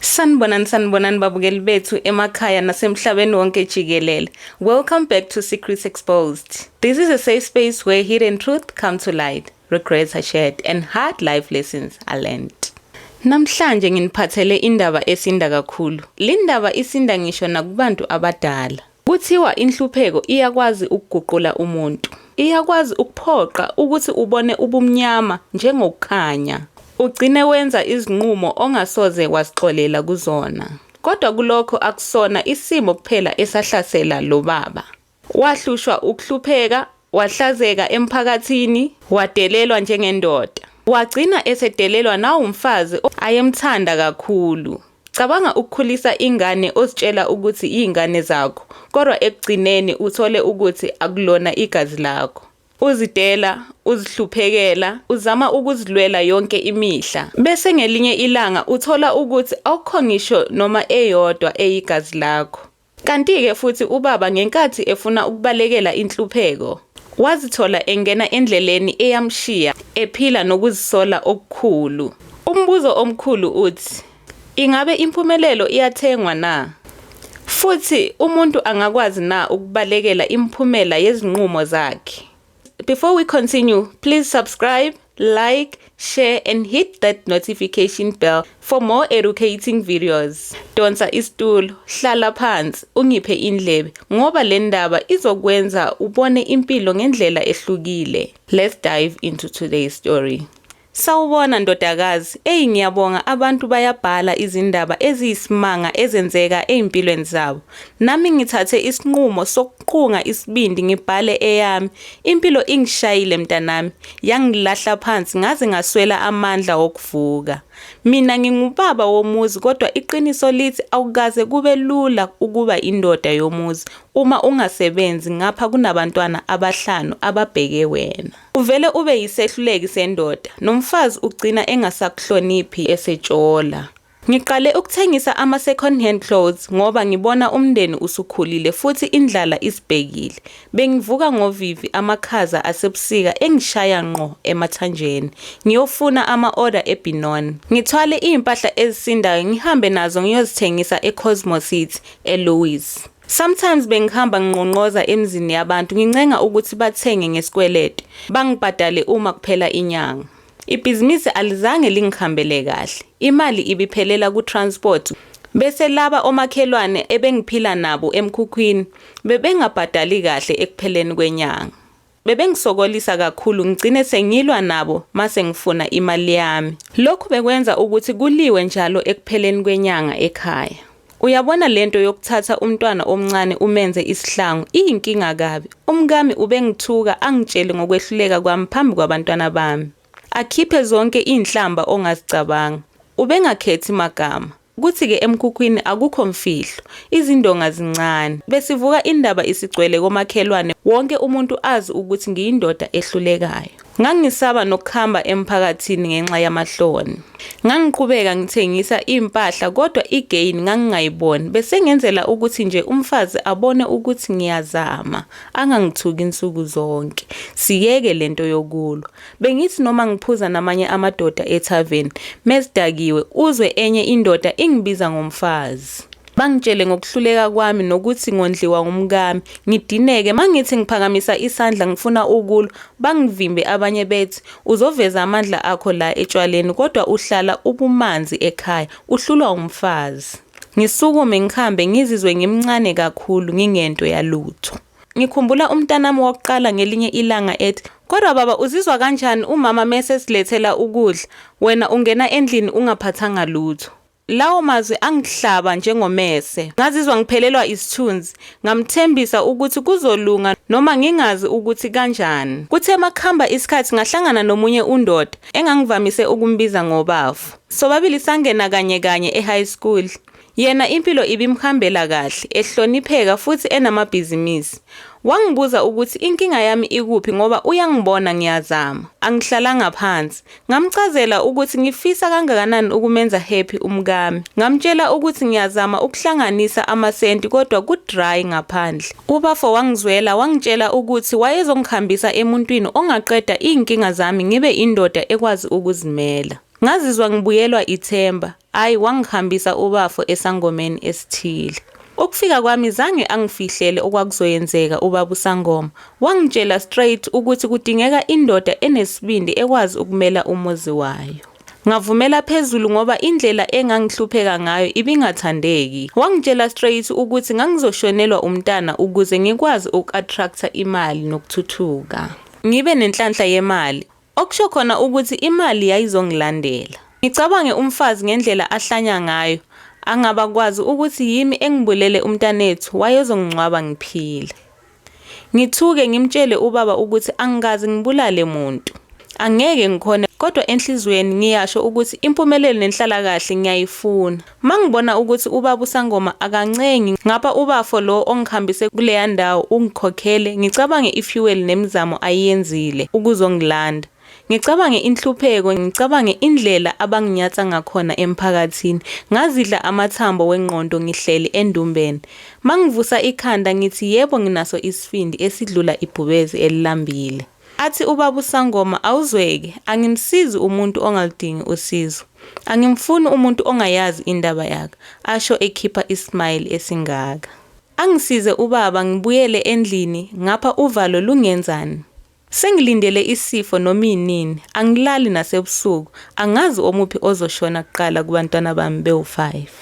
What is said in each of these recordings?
Sanibonani sanibonani babukeli bethu emakhaya nasemhlabeni wonke jikelele. Welcome back to Secrets Exposed. This is a safe space where hidden truth come to light, regrets are shared and hard life lessons are learned. Namhlanje nginiphathele indaba esinda kakhulu. Lindaba isinda ngisho nakubantu abadala. Kuthiwa inhlupheko iyakwazi ukuguqula umuntu. Iyakwazi ukuphoqa ukuthi ubone ubumnyama njengokukhanya, ugcine wenza izinqumo ongasoze wazixolela kuzona. Kodwa kulokho akusona isimo kuphela esahlasela lo baba. Wahlushwa ukuhlupheka, Wahlazeka emphakathini, wadelelwa njengendoda. Wagcina esedelelwa nawumfazi ayemthanda kakhulu. Cabanga ukukhulisa ingane ozitshela ukuthi iy'ngane zakho, kodwa ekugcineni uthole ukuthi akulona igazi lakho. Uzidela, uzihluphekela, uzama ukuzilwela yonke imihla. Bese ngelinye ilanga uthola ukuthi awukho ngisho noma eyodwa eyigazi lakho. Kanti-ke futhi ubaba ngenkathi efuna ukubalekela inhlupheko, wazithola engena endleleni eyamshiya ephila nokuzisola okukhulu. Umbuzo omkhulu uthi, Ingabe impumelelo iyathengwa na? Futhi umuntu angakwazi na ukubalekela imiphumela yezinqumo zakhe? Before we continue, please subscribe, like, share and hit that notification bell for more educating videos. Donsa isitulo, hlala phansi, ungiphe indlebe ngoba le ndaba izokwenza ubone impilo ngendlela ehlukile. Let's dive into today's story. Sawubona ndodakazi, eyi ngiyabonga abantu bayabhala izindaba eziyisimanga ezenzeka ezimpilweni zabo. Nami ngithathe isinqumo sokuqunga isibindi ngibhale eyami. Impilo ingishayile mntanami, yangilahla phansi ngaze ngaswela amandla okuvuka. Mina ngingubaba womuzi kodwa iqiniso lithi awukaze kube lula ukuba indoda yomuzi uma ungasebenzi ngapha kunabantwana abahlanu ababheke wena. Uvele ube yisehluleki sendoda, nomfazi ugcina engasakuhloniphi esetshola. Ngiqale ukuthengisa ama-second hand clothes ngoba ngibona umndeni usukhulile futhi indlala isibhekile. Bengivuka ngovivi amakhaza asebusika engishaya ngqo emathanjeni, ngiyofuna ama-oda eBinon. Ngithwale izimpahla ezisindayo ngihambe nazo ngiyozithengisa eCosmo City, eLouis. Sometimes bengihamba nginqonqoza emzini yabantu ngincenga ukuthi bathenge ngesikwelede, bangibhadale uma kuphela inyanga. Ibhizinisi alizange lingihambele kahle, imali ibiphelela ku-transport bese laba omakhelwane ebengiphila nabo emkhukhwini bebengabhadali kahle ekupheleni kwenyanga. Bebengisokolisa kakhulu ngigcine sengilwa nabo mase ngifuna imali yami. Lokhu bekwenza ukuthi kuliwe njalo ekupheleni kwenyanga ekhaya. Uyabona lento yokuthatha umntwana omncane umenze isihlangu iyinkinga kabi. Umkami ubengithuka angitshele ngokwehluleka kwami phambi kwabantwana bami. Akhiphe zonke iinhlamba ongazicabanga. Ubengakhethi magama. Kuthi-ke emkhukhwini akukho mfihlo, izindonga zincane. Besivuka indaba isigcwele komakhelwane, wonke umuntu azi ukuthi ngiyindoda ehlulekayo. Ngangisaba nokuhamba emphakathini ngenxa yamahloni. Ngangiqhubeka ngithengisa impahla kodwa i-gain ngangingayiboni, besengenzela ukuthi nje umfazi abone ukuthi ngiyazama, angangithuki nsuku zonke, siyeke le nto yokulwa. Bengithi noma ngiphuza namanye amadoda ethaveni, mesidakiwe, uzwe enye indoda ingibiza ngomfazi. Bangitshele ngokuhluleka kwami nokuthi ngondliwa umkami. Ngidineke, mangithi ngiphakamisa isandla ngifuna ukulwa, bangivimbe abanye bethi, uzoveza amandla akho la etshwaleni kodwa uhlala ubumanzi ekhaya, uhlulwa umfazi. Ngisukume ngihambe ngizizwe ngimncane kakhulu ngingento yalutho. Ngikhumbula umntanami wokuqala ngelinye ilanga ethi, Kodwa baba uzizwa kanjani umama mese silethela ukudla, wena ungena endlini ungaphathanga lutho. Lawo mazwi angihlaba njengomese. Ngazizwa ngiphelelwa isithunzi. Ngamthembisa ukuthi kuzolunga noma ngingazi ukuthi kanjani. Kuthe makuhamba isikhathi ngahlangana nomunye undoda engangivamise ukumbiza ngobafo. Sobabili sangena kanye kanye e-high school. Yena impilo ibimhambela kahle, ehlonipheka futhi enamabhizimisi. Wangibuza ukuthi inkinga yami ikuphi ngoba uyangibona ngiyazama, angihlalanga phansi. Ngamchazela ukuthi ngifisa kangakanani ukumenza happy umkami. Ngamtshela ukuthi ngiyazama ukuhlanganisa amasenti kodwa ku-dry ngaphandle. Ubafo wangizwela wangitshela ukuthi wayezongihambisa emuntwini ongaqeda iy'nkinga zami ngibe indoda ekwazi ukuzimela. Ngazizwa ngibuyelwa ithemba. Ayi wangihambisa ubafo esangomeni esithile. Ukufika kwami zange angifihlele okwakuzoyenzeka ubaba usangoma. Wangitshela straight ukuthi kudingeka indoda enesibindi ekwazi ukumela umuzi wayo. Ngavumela phezulu ngoba indlela engangihlupheka ngayo ibingathandeki. Wangitshela straight ukuthi ngangizoshonelwa umntana ukuze ngikwazi uku-attractor imali nokuthuthuka. Ngibe nenhlanhla yemali. Okusho khona ukuthi imali yayizongilandela. Ngicabange umfazi ngendlela ahlanya ngayo, angaba kwazi ukuthi yimi engibulele umntanethu wayezongingcwaba ngiphila. Ngithuke ngimtshele ubaba ukuthi angikaze ngibulale muntu. Angeke ngikhone kodwa enhlizweni ngiyasho ukuthi impumelelo nenhlalakahle ngiyayifuna. Mangibona ukuthi ubaba usangoma akancengi ngapha ubafo lo ongihambise kuleya ndawo ungikhokhele ngicabange ifuel nemizamo ayiyenzile ukuzongilanda ngicabange inhlupheko ngicabange indlela abanginyatsa ngakhona emphakathini ngazidla amathambo wengqondo ngihleli endumbeni mangivusa ikhanda ngithi yebo nginaso isifindi esidlula ibhubezi elilambile Athi ubaba usangoma awuzweke angimsizi umuntu ongaludingi usizo angimfuni umuntu ongayazi indaba yak asho ekhipha i smile esingaka angisize ubaba ngibuyele endlini ngapha uvalo lungenzan sengilindele isifo noma inini angilali nasebusuku angazi omuphi ozoshona kuqala kubantwana bami bewu five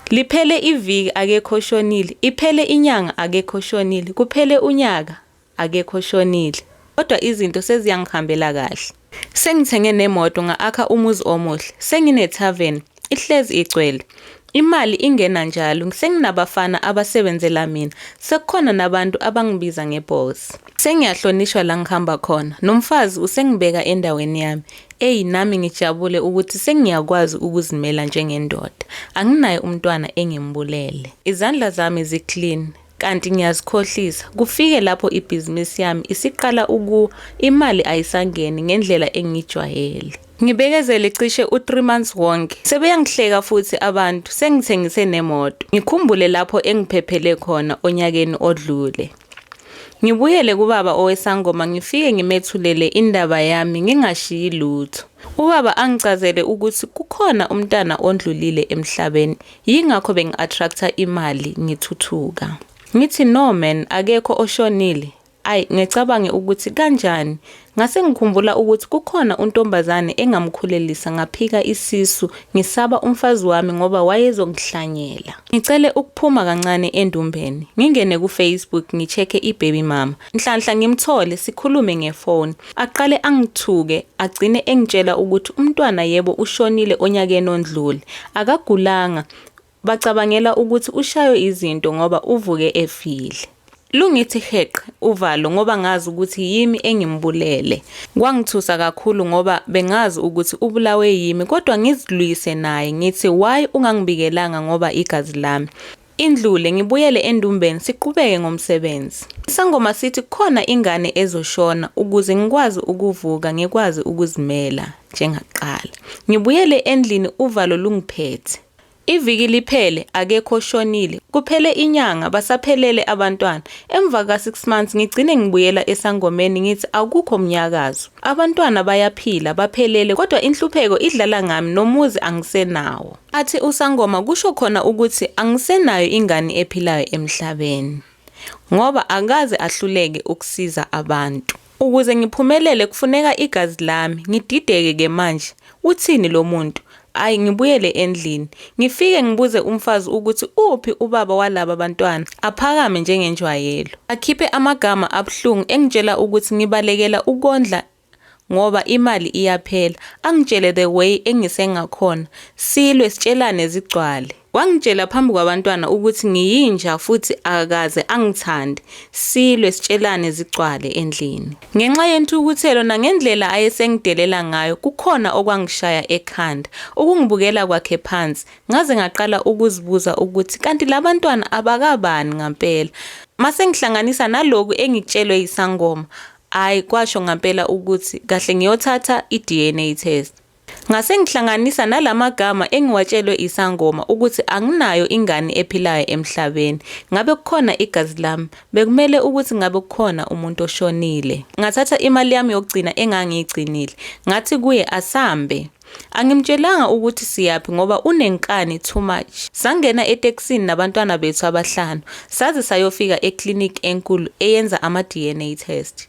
liphele iviki akekho oshonile iphele inyanga akekho oshonile kuphele unyaka Akekho oshonile. Kodwa izinto seziyangihambela kahle. Sengithenge nemoto nga-akha umuzi omuhle. Sengine-tarven. Ihlezi igcwele. Imali ingena njalo. Senginabafana abasebenzela mina. Sekukhona nabantu abangibiza nge-boss. Sengiyahlonishwa la ngihamba khona. Nomfazi usengibeka endaweni yami. Eyi nami ngijabule ukuthi sengiyakwazi ukuzimela njengendoda. Anginaye umntwana engimbulele. Izandla zami zi-clean. kanti ngiyazikhohlisa kufike lapho ibhizinisi yami isiqala ukuwa imali ayisangeni ngendlela engijwayele ngibekezele cishe u-3 months wonke sebeyangihleka futhi abantu sengithengise nemoto ngikhumbule lapho engiphephele khona onyakeni odlule ngibuyele kubaba owesangoma ngifike ngimethulele indaba yami ngingashiyi lutho ubaba angicazele ukuthi kukhona umntana ondlulile emhlabeni Yingakho bengi-attractor imali ngithuthuka. Ngithi no man akekho oshonile. Ay ngecabange ukuthi kanjani ngase ngikhumbula ukuthi kukhona untombazane engamkhulelisa ngaphika isisu ngisaba umfazi wami ngoba wayezongihlanyela. Ngicele ukuphuma kancane endumbeni ngingene ku Facebook ngichecke ibaby mama Nhlanhla ngimthole sikhulume ngefoni. Aqale angithuke, agcine engitshela ukuthi umntwana yebo ushonile onyakeni ondlule. Akagulanga. Bacabangela ukuthi ushaywe izinto ngoba uvuke efile. Lungithi heqe uvalo ngoba ngazi ukuthi yimi engimbulele. Kwangithusa kakhulu ngoba bengazi ukuthi ubulawe yimi kodwa ngizilwise naye ngithi why ungangibikelanga ngoba igazi lami. Indlule ngibuyele endumbeni siqhubeke ngomsebenzi. Isangoma sithi kukhona ingane ezoshona ukuze ngikwazi ukuvuka ngikwazi ukuzimela njengaqala. Ngibuyele endlini uvalo lungiphethe. Iviki liphele akekho oshonile, kuphele inyanga basaphelele abantwana. Emva ka 6 months ngigcine ngibuyela esangomeni ngithi akukho mnyakazo. Abantwana bayaphila baphelele kodwa inhlupheko idlala ngami nomuzi angisenawo. Athi usangoma kusho khona ukuthi angisenayo ingane ephilayo emhlabeni ngoba akaze ahluleke ukusiza abantu. Ukuze ngiphumelele kufuneka igazi lami, ngidideke ke manje uthini lo muntu? Ayi ngibuyele endlini, ngifike ngibuze umfazi ukuthi uphi ubaba walaba bantwana, aphakame njengenjwayelo. Akhiphe amagama abuhlungu engitshela ukuthi ngibalekela ukondla ngoba imali iyaphela angitshele the way engisengakhona silwe sitshelane zigcwale wangitshela phambi kwabantwana ukuthi ngiyinja futhi akaze angithande silwe sitshelane zigcwale endlini ngenxa yenthukuthelo nangendlela ayesengidelela ngayo kukhona okwangishaya ekhanda ukungibukela kwakhe phansi ngaze ngaqala ukuzibuza ukuthi kanti labantwana abakabani ngampela masengihlanganisa naloku engitshelwe yisangoma Hhayi, kwasho ngampela ukuthi kahle ngiyothatha i-DNA test. Ngase ngihlanganisa nala magama engiwatshelwe isangoma ukuthi anginayo ingane ephilayo emhlabeni. Ngabe kukhona igazi lami, bekumele ukuthi ngabe kukhona umuntu oshonile. Ngathatha imali yami yokugcina engangiyigcinile, ngathi kuye asambe. Angimtshelanga ukuthi siyaphi ngoba unenkani too much. Sangena etekisini nabantwana bethu abahlanu saze sayofika eclinic enkulu eyenza ama-DNA test.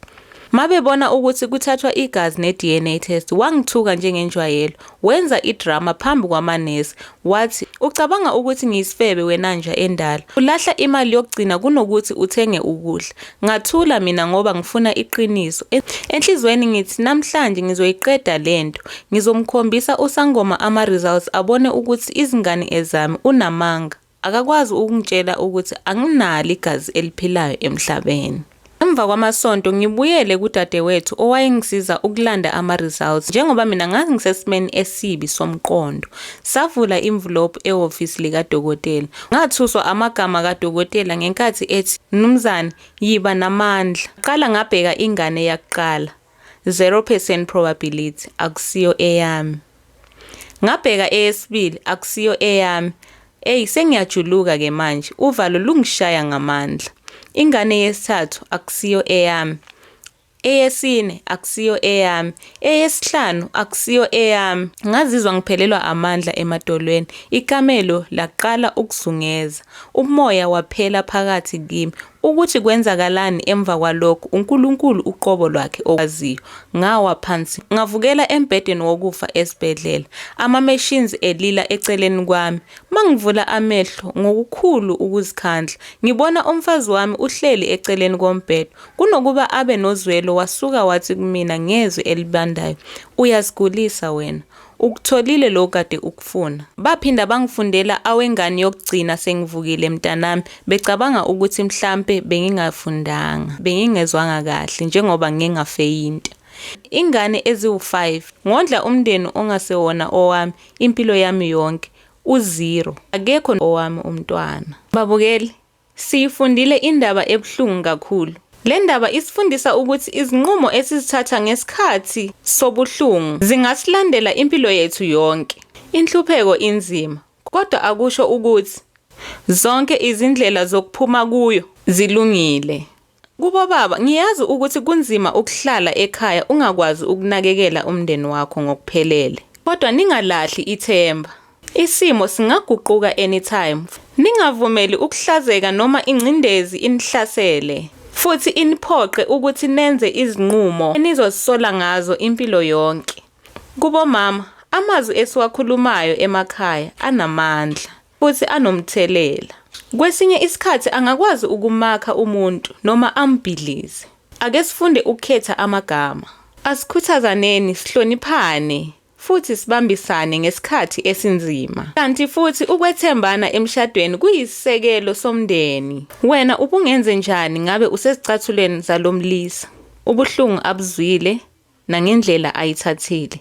Mabebona ukuthi kuthathwa igazi ne-DNA test wangithuka njengenjwayelo, wenza idrama phambi kwamanesi Wathi, Ucabanga ukuthi ngiyisifebe wena nja endala. Ulahla imali yokugcina kunokuthi uthenge ukudla. Ngathula mina ngoba ngifuna iqiniso. E, enhlizweni ngithi namhlanje ngizoyiqeda lento. Ngizomkhombisa usangoma ama results abone ukuthi izingane ezami unamanga. Akakwazi ukungitshela ukuthi anginalo igazi eliphilayo emhlabeni. Emva kwamasonto ngibuyele kudadewethu owayengisiza ukulanda ama-results njengoba mina ngangisesimeni esibi somqondo. Savula imvulopu ehhovisi likadokotela. Ngathuswa amagama kadokotela ngenkathi ethi, Mnumzane, yiba namandla. Qala ngabheka ingane yakuqala. 0 percent probability akusiyo eyami ngabheka eyesibili akusiyo eyami eyi sengiyajuluka ke manje uvalo lungishaya ngamandla ingane yesithathu akusiyo eyami eyesine akusiyo eyami eyesihlanu akusiyo eyami ngazizwa ngiphelelwa amandla emadolweni ikamelo laqala ukuzungeza umoya waphela phakathi kimi Ukuthi kwenzakalani emva kwalokho uNkulunkulu uqobo lwakhe okwaziyo. Ngawa phansi, ngavukela embhedeni wokufa esibhedlela, ama-machines elila eceleni kwami. Mangivula amehlo ngokukhulu ukuzikhandla, ngibona umfazi wami uhleli eceleni kombhede. Kunokuba abe nozwelo wasuka wathi kumina ngezwi elibandayo, Uyasigulisa wena. Ukutholile lo kade ukufuna. Baphinda bangifundela awengane yokugcina sengivukile mntanami becabanga ukuthi mhlampe bengingafundanga, bengingezwanga kahle njengoba ngike ngafeyinta. Ingane eziwu-five, ngondla umndeni ongasewona owami impilo yami yonke, uzero, akekho owami umntwana. Babukeli, Siyifundile indaba ebuhlungu kakhulu. Le ndaba isifundisa ukuthi izinqumo esizithatha ngesikhathi sobuhlungu zingasilandela impilo yethu yonke. Inhlupheko inzima, kodwa akusho ukuthi zonke izindlela zokuphuma kuyo zilungile. Kubo baba, ngiyazi ukuthi kunzima ukuhlala ekhaya ungakwazi ukunakekela umndeni wakho ngokuphelele. Kodwa ningalahli ithemba. Isimo singaguquka anytime. Ningavumeli ukuhlazeka noma ingcindezi inihlasele futhi iniphoqe ukuthi nenze izinqumo enizozisola ngazo impilo yonke. Kubo mama, amazwi esiwakhulumayo emakhaya anamandla. futhi anomthelela. Kwesinye isikhathi angakwazi ukumakha umuntu noma ambhidlize. Ake sifunde ukukhetha amagama. Asikhuthazaneni, sihloniphane, futhi sibambisane ngesikhathi esinzima. Kanti futhi ukwethembana emshadweni kuyisisekelo somndeni. Wena ubungenze njani ngabe usezicathulweni zalo mlisa? Ubuhlungu abuzwile nangendlela ayithathile.